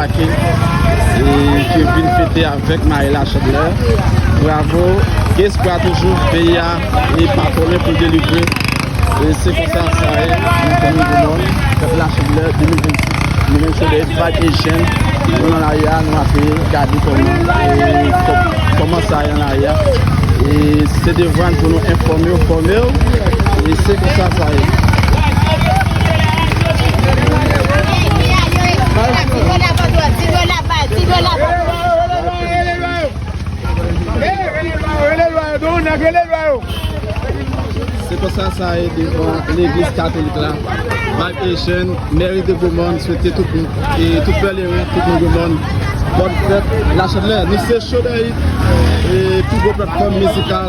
Ake ki vin fete avèk mari la chandelè bravo gen espwa toujou peyi a e pa twò lè pou delivre e se konsa sa ye nan komin Gromòn pèp la chandelè 2026 nou menm se de vag e jèn nou nan lari a nou ape gade kòman kòman sa ye nan lari a e se devwa n pou nou enfòme w fòme w e se konsa sa ye. Se konsa sa ye devan leglis katolik la Vibe Haitian, Mary de Beaumont swete tout moun, tout pèlerin, tout moun Beaumont Bonne fête, la chadlè, nou se Show Dayit, pi gwo platfòm mizikal